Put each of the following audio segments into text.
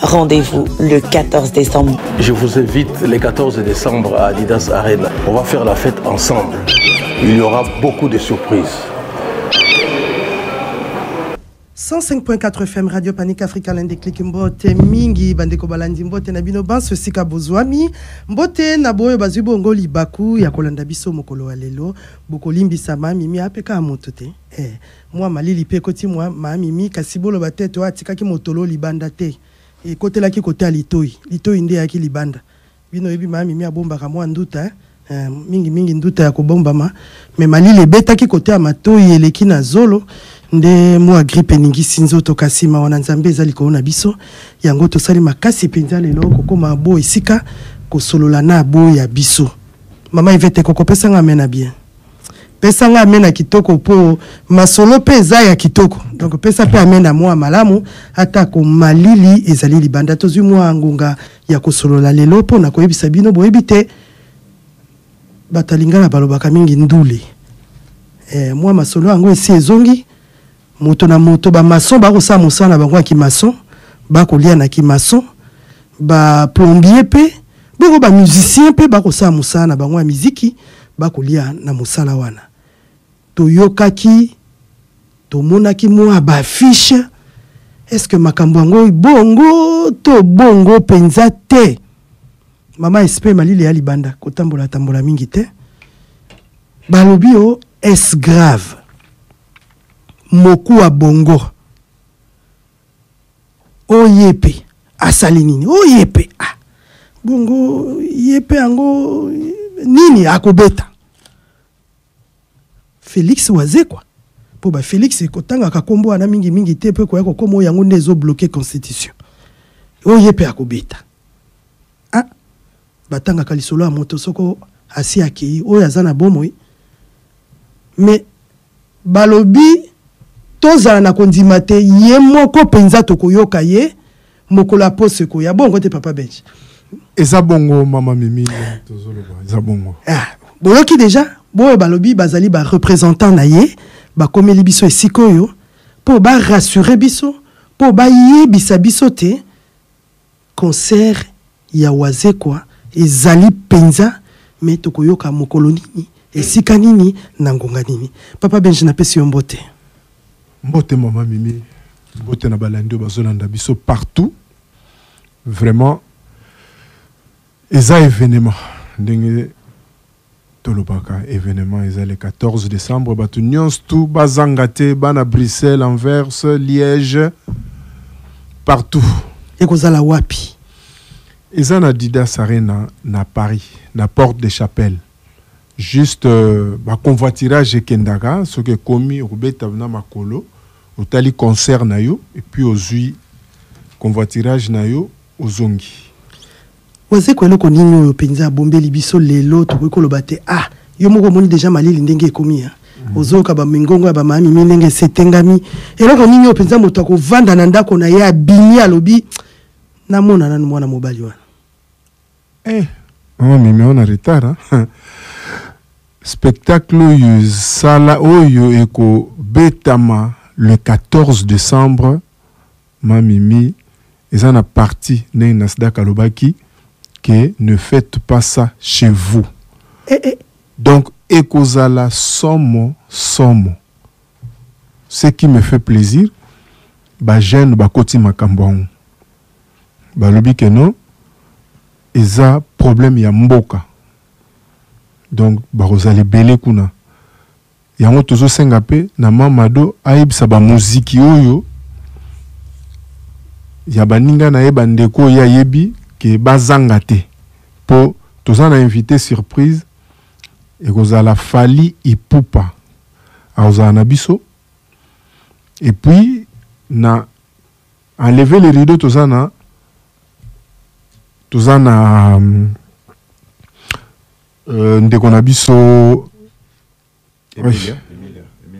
Rendez-vous le 14 décembre. Je vous invite le 14 décembre à Adidas Arena. On va faire la fête ensemble. Il y aura beaucoup de surprises. 105.4 FM Radio Panique Africa l'un des clics mbote mingi bandeko balandi mbote na bino banso sika bozwami mbote na boyo bazwi bongo libaku ya kolanda biso mokolo wa lelo bokolimbisama mimi apeka moto te eh. Mua malili pe ekoti mua ma Mimi, kasi boloba tete oyo atikaki motolo libanda te, ekotelaki kote ya litoyi, litoyi nde eyaki libanda. Bino oyebi ma Mimi abombaka mua nduta eh, mingi mingi nduta ya kobombama, mais malili ebetaki kote ya matoyi eleki na zolo, nde mua grippe eningisi nzoto, kasi mawa na Nzambe eza likolo na biso, yango tosali makasi penza lelo kokoma a bo esika, kosolola na bo ya biso. Mama Yvette ekokopesa nga amen ya bien? Pesa nga amen ya kitoko po masolo pe eza ya kitoko. Donc pesa pe amen ya mua malamu ata ko malili ezali libanda. Tozwi mua ngonga ya kosolola lelo po na koyebisa bino boyebi te bato ya lingala balobaka mingi ndule. Eh, mua masolo yango esi ezongi. Moto na moto ba maçon ba kosala mosala na bango ya ki maçon ba kolia na ki maçon ba plombier pe boko ba musicien pe ba kosala mosala na bango ya miziki ba kolia na mosala wana toyokaki tomonaki mwa ba affiche est ce que makambo yango bongo to bongo mpenza te mama espe malili ya libanda kotambola tambola mingi te balobi o oh, es grave Mokuwa bongo o ye pe asali nini o ye pe ah bongo ye pe yango nini akobeta Felix Wazekwa mpo ba Felix kotangaka nkombo wana mingi mingi te mpe koya kokoma oyo yango nde ezo bloke constitution oyo ye mpe akobeta ah batangaka lisolo ya moto soko asi akei oyo aza na bomoi mais Balobi, Tozala na kondima te, ye moko mpenza tokoyoka ye mokolo ya poso ekoya. Bongo te, Papa Benji? Eza bongo, Mama Mimi, tozoloba eza bongo. Ah, boyoki dejà? Boyo balobi bazali ba representants na ye, bakomeli biso esika oyo mpo ba rassurer biso, mpo bayebisa biso te Concert ya Wazekwa ezali penza mais tokoyoka mokolo nini, esika nini, na ngonga nini? Papa Benji napesi yo mbote. Mbote maman Mimi, mbote na balandi oyo bazolanda biso partout. Vraiment eza evenement ndenge Tolobaka evenement eza le 14 decembre batu nionso tout bazanga te bana Bruxelles, Anvers, Liège partout. Ekozala wapi? Eza na Adidas Arena na Paris na porte de chapelle. Juste euh, ba convoitirage ekendaka soki ekomi okobeta na makolo otali concert na yo et puis ozui convoitirage na yo ozongi. Wazekwa eloko nini oyo penza abombeli biso lelo tokoki koloba te ah yo moko omoni deja malili ndenge ekomi ya mhm. ozoyoka bamingongo ya bamamimi ndenge esetengami eloko nini oyo penza moto akovanda na ndako na ye abimi alobi namona nanu mwana mobali wana eh, mama mimi ona retard spectacle oyo esala oyo ekobetama le 14 décembre mamimi eza na parti ndenge Nasdaq alobaki que ne faites pas ça chez vous eh, eh. donc ekozala somo somo ce qui me fait plaisir ba jeune bakoti makambo yango balobi que non eza problème ya mboka donc bakozala ebele kuna Yango tozo senga pe na ma Mado ayebisa ba moziki oyo ya baninga na ye ba ndeko oyo ye ayebi ke bazanga te po toza na invite surprise ekozala Fally Ipupa akozala na biso et puis na enlever le rideau toza na toza na Euh, ndeko na biso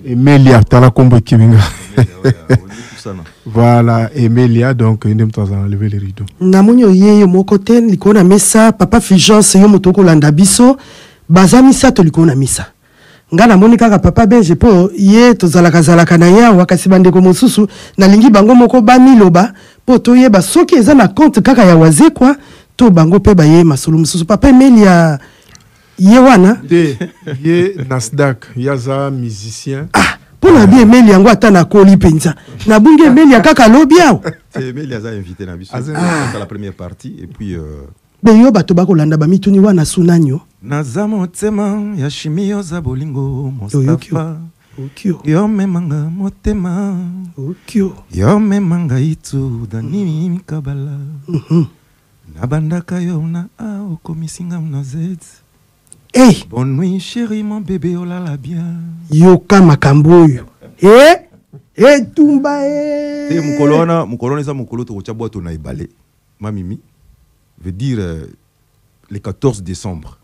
emelia tala nkombo ekimi nga voilà emelia donc nde moto azala na leve le rideau namoni oye yo moko te likolo na mesa papa fulgence yo moto okolanda biso baza misato likolo na mesa Nga na moni kaka papa benji po ye tozalaka zalaka na ye awa kasi ba ndeko mosusu na lingi bango moko ba miloba po to yeba soki eza na compte kaka ya wazekwa to bango pe ba ye masolo mosusu papa emelia ye wana te ye nasdac ye aza musicien ah mpo na bi emeli yango ata nakoli mpenza nabungi emeli ya kaka lobi awa emeli aza invité na biso asala ah. première partie et puis euh... Be yo bato bakolanda bamituni wana sunanyo. Naza motema ya shimi oza bolingo Mustapha. Okyo. Yo memanga motema. Okyo. Yo memanga itu dani mm. mikabala. Mm -hmm. Nabandaka yo na a okomisinga na zeti. Hey. Bonne nuit chérie mon bébé olala oh bien. Yoka makambo oyo. Eh? etumba e te mokolo wana mokolo wana eza mokolo tokotya bwato na ebale Ma mimi veut dire le 14 decembre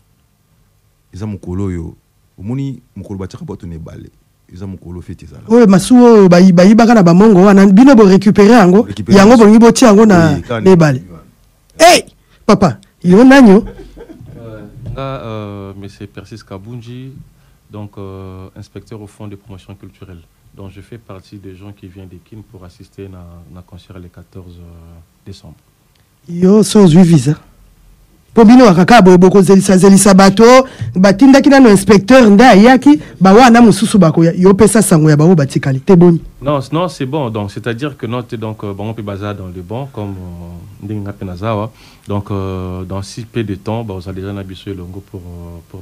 eza mokolo oyo omoni mokolo batiaka bato na ebale eza mokolo feti ezala oyo masu oyo bayibaka na bamongo wana bino borecupere yango yango bolingi botia yango na ebale hey! papa yo nani yo euh, nga euh, monsieur persis kabunji donc euh, inspecteur au fond de promotion culturelle donc je fais partie des gens qui viennent de kin pour assister na, na concert le 14 euh, Decembre. Yo so ozwi visa mpo bino waka kaka boye bokozelisazelisa bato oh, batindaki nano inspecteur nde ayaki bawana mosusu bakoya yo opesa sango ya bango batikali te boni non non c'est bon donc c'est à dire que note donc euh, bango mpe baza dans le bon comme euh, ndenge nga mpe naza awa donc euh, dans si peu de temps bakozala déjà na biso elongo pour, pour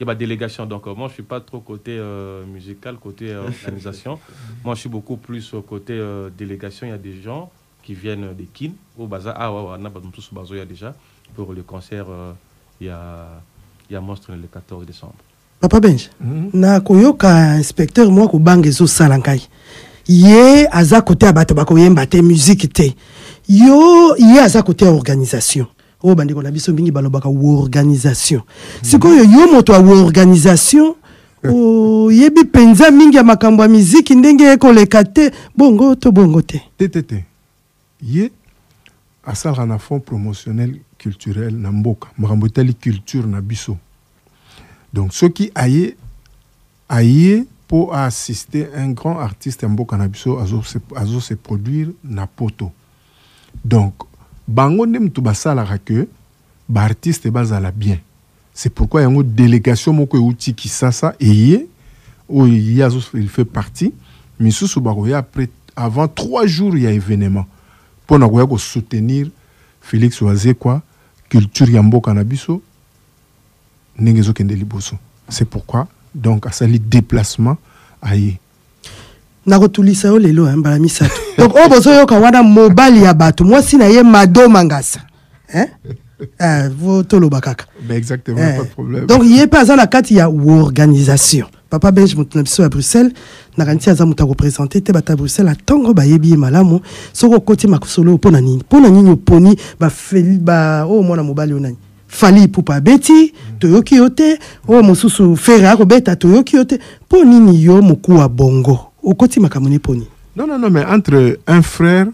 ya ba delegation donc euh, moi je suis pas trop côté euh, musical côté euh, organisation moi je suis beaucoup plus euh, côté euh, délégation il y a des gens qui viennent de Kin au bazar ah ouais wana bato mosusu bazoya déjà pour le concert euh, ya ya monstre le 14 décembre papa benje mhm. na koyoka inspecteur mwa kobanga ezosala ngai ye aza kote ya bato bakoyemba te miziki te yo ye aza kote ya organisation oyo bandeko na biso mingi balobaka organisation mhm. sikoyo yo moto ya organisation oyebi oh, mpenza mingi ya makambo ya miziki ndenge ekoleka te bongo to bongo te te te te ye asalaka na fond promotionnel culturel na mboka makambo etali culture na biso donc soki aye Aye po a assister un grand artiste ya mboka na biso azo se, azo se produire na poto. Donc bango nde mutu basalaka que ba artistes bazala bien. C'est pourquoi yango delegation moko euti Kisasa eye oyo ye azo il fait partie misusu bakoya après avant trois jours ya evenement mpo na koya kosoutenir Felix Wazekwa culture ya mboka na biso ndenge ezokende liboso c'est pourquoi donc asali déplacement aye nakotulisa yo lelo hein, mbala misato donc oyo bozoyoka wana mobali ya bato mwasi na ye mado mangasa hein? eh, toloba kaka ben exactement, eh. pas de problème. donc ye mpe aza na kati ya organisation papa benj moto na biso ya bruxelles nakanisi aza moto akopresente te bato ya bruxelles atango bayebi ye malamu soki okoti makosolo oyo mpo na nini mpo na nini oponi baoyo oh, mwana mobali oyo nani Fally Ipupa abeti toyoki yo te, oyo mosusu Ferre akobeta toyoki yo te. Mpo nini yo mokuwa bongo okoti makambo ne poni? Non, non, non, mais entre un frère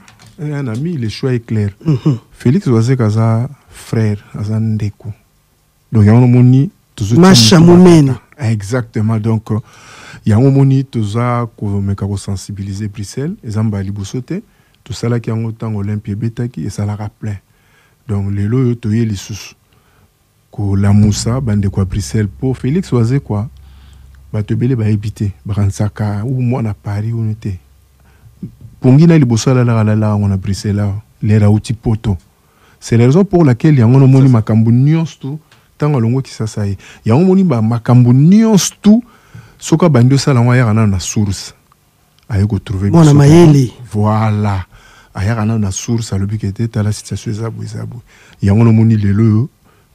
et un ami, le choix est clair. Mhm. Félix Wazek aza frère, aza ndeko. Donc yango omoni tozo Masha Mumeni. Exactement. Donc euh, yango omoni toza komeka ko sensibiliser Bruxelles, eza mbala liboso te. Tosalaki yango ntango Olympia ebetaki, esalaka plein. Donc lelo oyo toye lisusu kolamusa bandeko ya Bruxelles mpo Felix Wazekwa bato ebele bayebi te bakanisaka u mwana Paris unu te pongi na liboso alalaka alalaka yango na Bruxelles awa lere auti poto c'est la raison pour laquelle yango nomoni makambo nyonso tu ntango alongwe kisasa ye yango omoni makambo nyonso tu soki abandi osala yango ayaka nano na source aye ko trouver mwana mayele voilà ayaka nano na source alobi ke te tala situation eza boye eza boye yango nomoni lelo oyo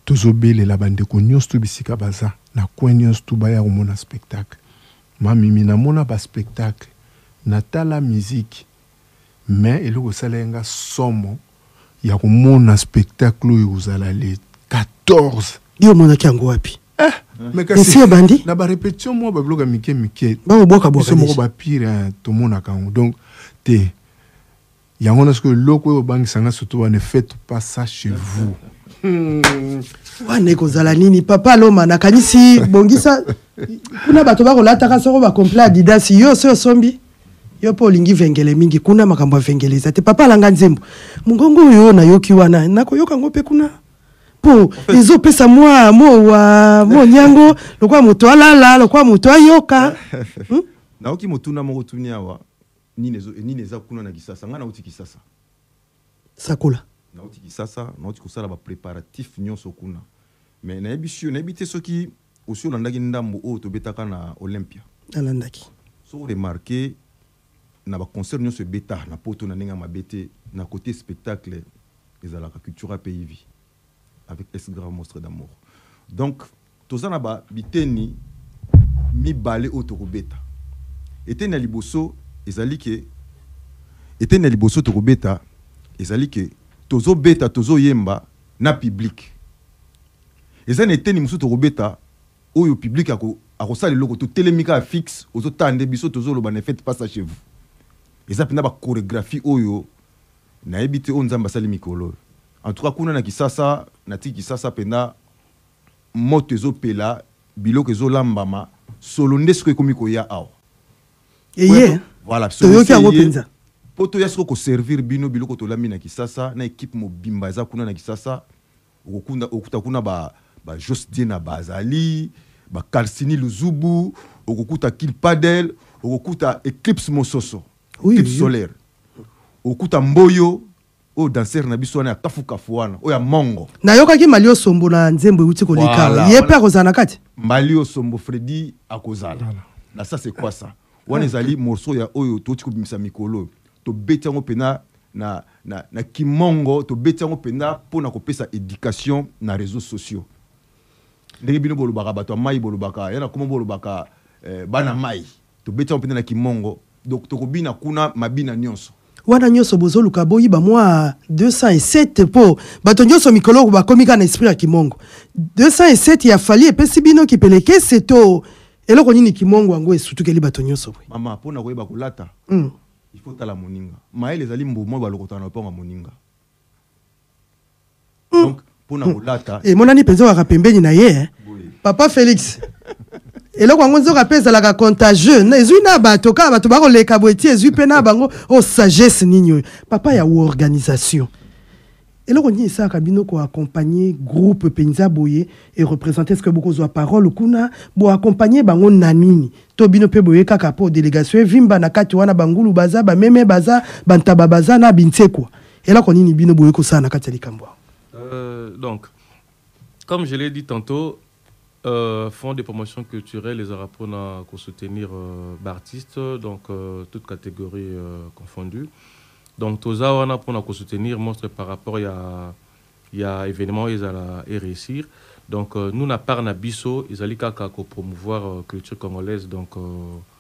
tozobelela bandeko nyonso to bisika baza na coin nyonso tu baya komona spectacle mamimi namona baspectacle natala miziki mais eloko esala ye nga somo ya komona spectacle oyo ekozala le 14 yo omonaki yango wapi Eh, esi ebandi na barepetition mwa babiloka mike mike baobwakabwaka moko bapire eh, tomonaka yango donc te yango na sikoyo eloko oyo obangisa nga surtout wana fete pas ça chez vous hmm. wana ekozala nini papa loma nakanisi bongisa kuna bato bakolataka soko bacomplet adidas yo osi osombi yo mpe olingi vengele mingi kuna makambo ya vengele eza te papa alanga nzembo mongongo oyo nayoki wana nakoyoka yango mpe kuna po ezo pesa mwa mowa monyango lokola moto alala lokola moto ayoka hmm? naoki motuna moko tuni awa nini ezo nini eza kuna na kisasa ngai nauti kisasa sakola nauti kisasa nauti kosala ba préparatif nyonso kuna mais nayebi sur nayebi te soki Osi olandaki ndambu oyo tobetaka na Olympia? Nalandaki. Soki o remarquer, na ba concerts nionso ebeta na poto na ndenge ya mabe te, na cote spectacle ezalaka Cultura pe Yvi avec S Grave Monstre d'amour. Donc, toza na ba biteni mibale oyo tokobeta. Eteni ya liboso ezali que, eteni ya liboso tokobeta ezali que tozobeta, tozoyemba na public. Eza na eteni mosusu toko beta oyo public ako akosala eloko to telemi kaka fixe ozo tala nde biso tozo loba ne faite pas ça chez vous eza penda ba choregraphie oyo na yebi te oyo nzambe asali mikolo oyo en tout cas kuna na kisasa na tiki kisasa penda moto ezo pela biloko ezo lambama solo nde siko ekomi koya awa eye voilà toyoki yango penza po toya siko ko servir bino biloko tolambi na kisasa na equipe mobimba eza kuna na kisasa Okokunda okuta kuna ba ba Jos Diena bazali, ba Karsini Luzubu, okokuta King Padel, okokuta Eclipse Mososo, Oui, Eclipse oui. Solaire. Okuta Mboyo, oyo danser na biso wana ya kafu kafu wana, oyo ya Mongo. Nayokaki Mali Osombo na nzembo euti koleka awa. Voilà, Ye pe wana- akozala na kati? Mbali Osombo Freddy akozala. Na ça c'est quoi ça? Wana ezali morceau ya oyo touti kobimisa mikolo oyo. Tobeti yango mpenza na, na, na Kimongo, tobeti yango mpenza mpo na kopesa education na reseaux sociaux. Ndenge bino bolobaka bato ya mai, bolobaka ya na Congo, bolobaka eh, bana mai, tobeti yango mpenza na Kimongo. Donc tokobina kuna mabina nyonso. wana nyonso bozoluka boyiba mwa 207 mpo bato nyonso mikolo oyo bakomi kaka na esprit ya kimongo 207 ya fali epesi bino kipelekese to Eloko nini kimongo yango esutukeli bato nyonso boye? Mama, mpo na koyeba kolata, mm. il faut tala moninga. Mayele ezali mbuma oyo balokotana na lopango ya moninga. Mm. Donc, mpo na kolata. Mm. Emonani mpenza waka pembeni na ye. Eh? Papa Felix. eloko yango nzoka mpe ezalaka contagieux ezwi na bato kaka bato bakoleka boye ti ezwi mpe na bango o oh, sagesse nini oyo papa ya organisation Eloko nini esalaka bino ko accompagner groupe penza boye et representer est-ce que boko zwa parole kuna bo accompagner bango na nini to bino pe boye kaka po delegation evimba na kati wana bangulu baza ba meme baza bantaba baza na binsekwa eloko nini bino boye kosala na kati ya likambo Euh, donc, comme je l'ai dit tantôt, Fonds de promotion culturelle ezalaka pona ko soutenir ba artistes donc toutes categories confondues donc toza wana pona ko soutenir monstre par rapport ya ya evenement oyo ezala e reussir donc nous na part na biso ezali kaka ko promouvoir culture congolaise donc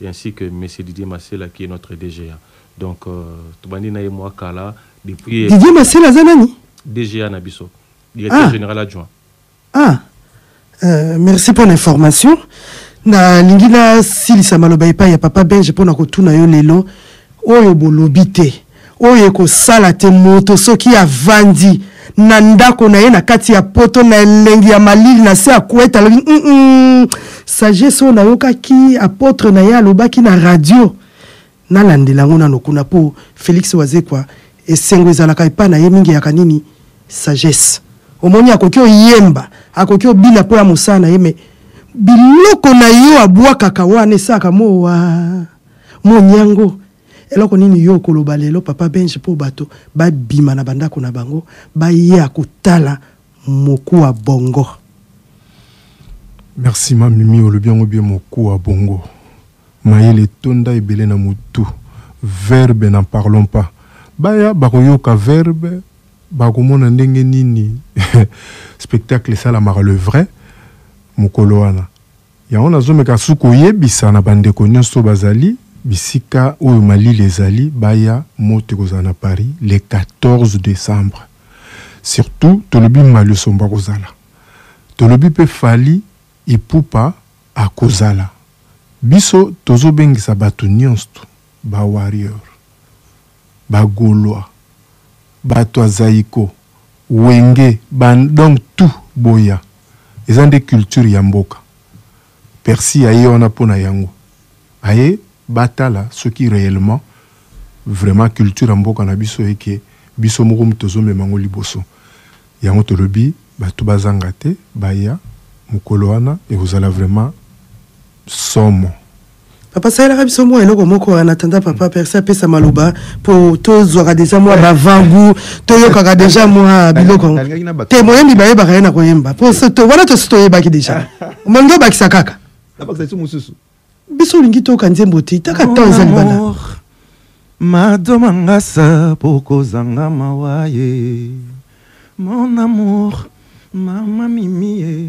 et ainsi que monsieur Didier Masela qui est notre DGA donc tobandi na ye mua kala depuis Didier Masela aza nani? DGA na biso directeur ah. general adjoint ah euh, merci pour l'information nalingi nasilisa maloba epai ya papa belge mpo na kotuna yo lelo oyo bolobi te oyo ekosala te moto soki avandi na ndako na ye na kati ya poto na elengi ya malili na se ya kuete alobi mm -mm, sagesse oyo nayokaki apotre na ye alobaki na radio nalandela yango nano kuna mpo felix wazekwa esengo ezalaka epai na ye mingi yaka nini sagesse omoni akoki oyemba akoki obina mpo ya mosala na ye me biloko na yo abwakaka wana esaka mowa monyango Eloko nini yo okoloba lelo papa Benj po bato ba bima na ba ndako na bango ba ya kotala mokuwa bongo? Merci ma mimi olobi yango bien mokuwa bongo mayele etonda ebele na mutu verbe n'en parlons pas baya bakoyoka verbe bakomona ndenge nini spectacle esalamaka le vrai mokolo wana Yango nazomeka su koyebisa na bandeko nionso bazali bisika oyo malili ezali baya moto ekozala na Paris le 14 decembre surtout tolobi maliosombo akozala tolobi pe Fally Ipupa akozala biso tozobengisa batu nionst ba warrior ba golois, batu ya zaiko, wenge, ba donc tout boya eza nde culture ya mboka percy aye wana mpo na yango aye batala soki reellement vraiment culture ya mboka na biso et que biso moko mutu tozo mema yango liboso yango tolobi batu bazanga te baya mokolo wana ekozala vraiment somo papa salelaka biso mwa eloko moko wana tanda papa perse apesa maloba mpo tozwaka deja mwa bavangu toyokaka deja mwa biloko yango te moyembi bayebaka ye na koyemba mpo wana tosi toyebaki deja omongi obakisa kaka biso olingi toyoka nzembo te taka temps eza libanda mado mangasa mpo kozanga mawa ye mon amour mama mimi ye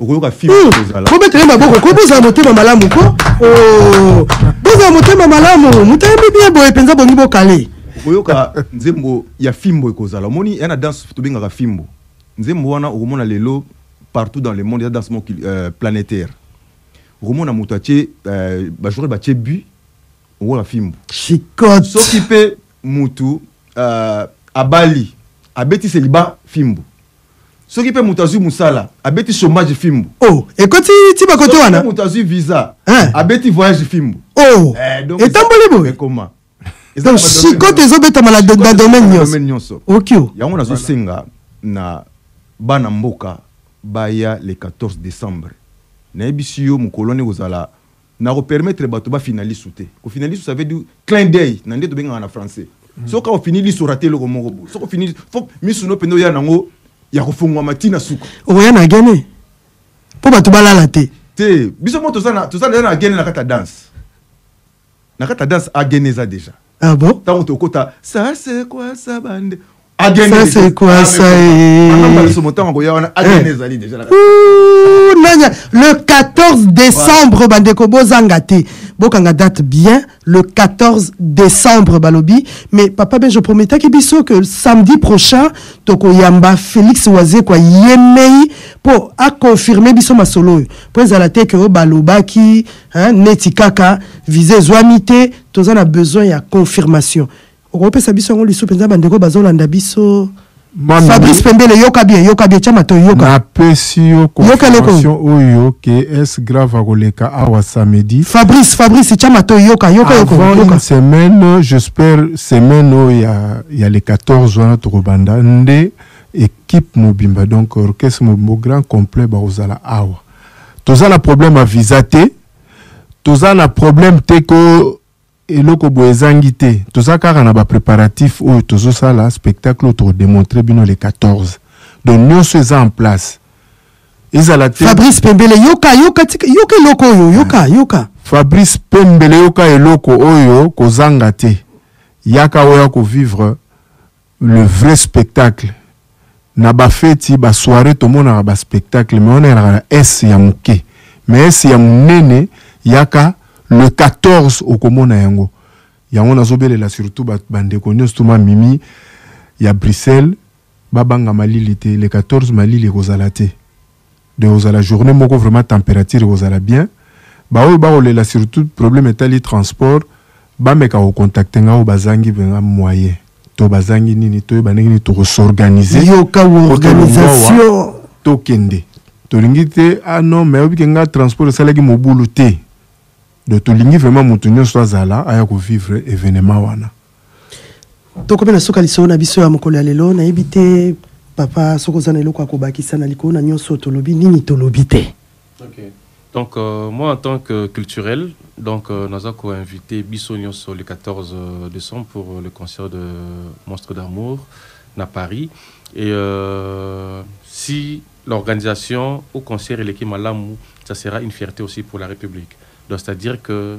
okoyoka fimbo hmm. kozala bobeta ye maboko ko bozala motema malamu ko oh. bozala motema malamu moto ayebi bien boye mpenza bongi bokale okoyoka nzembo ya fimbo ekozala omoni ya na danse tobengaka fimbo nzembo wana okomona lelo partout dans le monde eza danse moko euh, planétaire okomona moto atye euh, bajoueur batye but okoyoka fimbo chicote soki mpe motu euh, abali abetisi liba fimbo soki mpe moto azwi mosala abeti chômage fimbu oh, ekoti ti bakote wana moto azwi visa eh. abeti voyage fimbu oh, eh, etamboli boye ekoma donc sikote ezobetama na domaine nyonso okio yango nazosenga na bana mboka baya le 14 décembre nayebisi yo mokolo wana ekozala Nako permettre batu ba fina lisu te. Ko fina lisu ça veut dire clin d'oeil na nde tobengaka na français. Mm. Soki ofini lisu orate eloko moko bo. Soki ofini fo misu no pende oya nango ya kofungwama ti na suka. Okoya na gene mpo bato balala te. Te biso mo toza na toza na gene na kata danse na kata danse agene eza deja. Ah bon? Tango tokota ça c'est quoi ça bande c'est quoi ça le 14 décembre bandeko bozanga te bokanga date bien le 14 décembre balobi mais papa ben je prometaki biso que samedi prochain tokoyamba félix wazekwa ye mei mpo aconfirme biso masolo oyo mpo ezala te ke oyo balobaki neti kaka visa ezwami te toza na besoin ya confirmation Okopesa biso yango lisu penza bandeko bazolanda biso. Mami, Fabrice Pembele yoka bien yoka bien tia matoi yoka. Napesi yo confirmation oyo ke es grave akoleka awa samedi. Fabrice Fabrice tia matoi yoka yoka yoka. Avant yoka. une semaine j'espère semaine oyo ya ya le 14 wana tokobanda nde équipe mobimba donc orchestre mobimba grand complet bakozala awa. Toza na problème ya visa te. Toza na problème te ko eloko boye ezangi te toza kaka na ba preparatif oyo tozosala spectacle oyo tokodemontre bino le 14 donc nyonso eza en place ezala te fabrice pembele yoka yoka tika yoka eloko oyo yoka yoka fabrice pembele yoka eloko oyo kozanga te yaka oya kovivre le vrai spectacle na ba feti ba soiree tomonaka ba spectacle mais wana elaka na s ya moke mais s ya munene yaka le 14 okomona yango yango nazobelela surtout ba bandeko nyonso to ma mimi ya Bruxelles babanga malili te le 14 malili ekozala te de kozala journee moko vraiment temperature ekozala bien baoyo bakolela surtout problème etali transport bameka kocontacte ngai oyo bazangi mpenza moyen to bazangi nini toyeba ndenge nini tokosorganize yoka organisation tokende tolingi te ah non mais oyebike ngai transport esalaki mobulu te donc tolingi vraiment motu nyonso azala aya kovivre événement wana tokomi na suka lisolo na biso ya mokolo ya lelo nayebi te papa soki oza na eloko ya kobakisa na likolo na nyonso tolobi nini tolobi te okay. donc euh, moi en tant que culturel donc euh, naza koinvite biso nyonso le 14 euh, décembre pour euh, le concert de monstre d'amour na paris et euh, si l'organisation au concert eleki malamu ça sera une fierté aussi pour la république donc c'est à dire que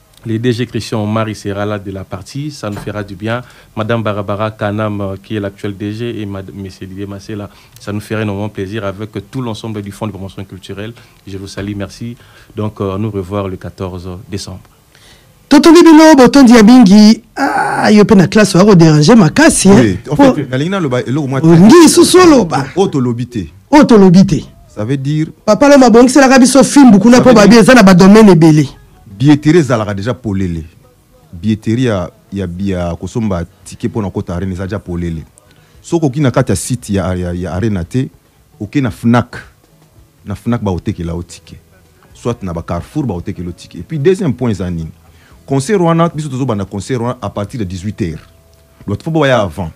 Le DG Christian Omari sera là de la partie, ça nous fera du bien. Madame Barabara Kanam, euh, qui est l'actuelle DG, et Mad- Monsieur Didier Massela, ça nous ferait énormément plaisir avec euh, tout l'ensemble du Fonds de promotion culturelle. Je vous salue, merci. Donc, euh, à nous revoir le 14 décembre. totondi bino botondi ya mingi ah, yo mpe na classe oya koderange makasi hein. Oui, en Po- fait, nalingi naloba eloko mwa olingi lisusu oloba oyo tolobi te oyo tolobi te ça veut dire papa loma abongiselaka biso fimbu kuna mpo babi eza na badomene ebele Billetterie ezalaka deja polele. Billetterie ya, ya, ya kosomba ticket pona kota arena eza deja polele. Soki oki na kati ya site ya, ya, ya arena te, oke na Fnac. Na Fnac bakotekela yo ticket. Soit na ba Carrefour bakotekela yo ticket. Et puis deuxième point eza nini? Concert wana biso tozobanda concert wana à partir de 18 heures. Donc faut baya avant.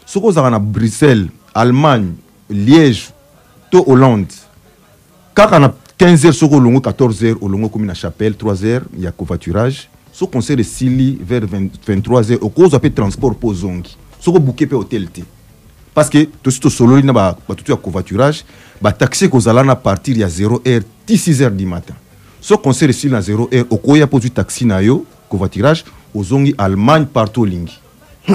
Soki ozalaka na Bruxelles, Allemagne, Liège to Hollande kaka na 15 heures soki olongo 14 heures olongo okomi na chapelle 3 heures ya covoiturage so concert esili vers 23 heures okozwa mpe transport mpo ozongi soki obuke mpe hotel te parce que tosi tosololi na batutu ya covoiturage bataxi ekozala na partir ya 0 heure ti 6 heures du matin so concert esili na 0 heure okoya mpo ozwi taxi na yo covoiturage ozongi allemagne partout olingi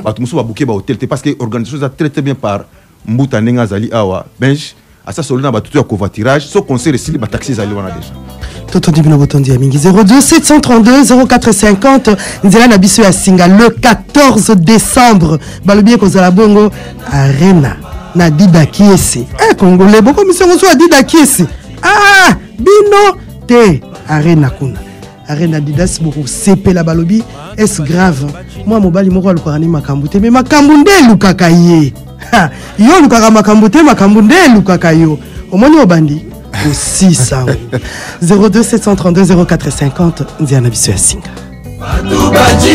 bato mosusu babuke bahotel te parce que organisation eza très très bien par mbuta ndenge azali awa benj asa solo na bato to ya covoiturage so concert esili bataxi ezali wana deja totondi bino botondi ya mingi 02732 0450 nzela na biso ya singa le 14 décembre balobi ekozala bongo arena na dida kiesi e congolais bokomisi yango so ya dida kiesi ah bino te arena kuna arena adidas bokosepela balobi es grave mwa mobali moko alukaka ni makambo te me makambo nde elukaka ye yo olukaka makambo te makambo nde elukaka yo omoni obandi kosisa 02732 0450 nzela na biso ya singa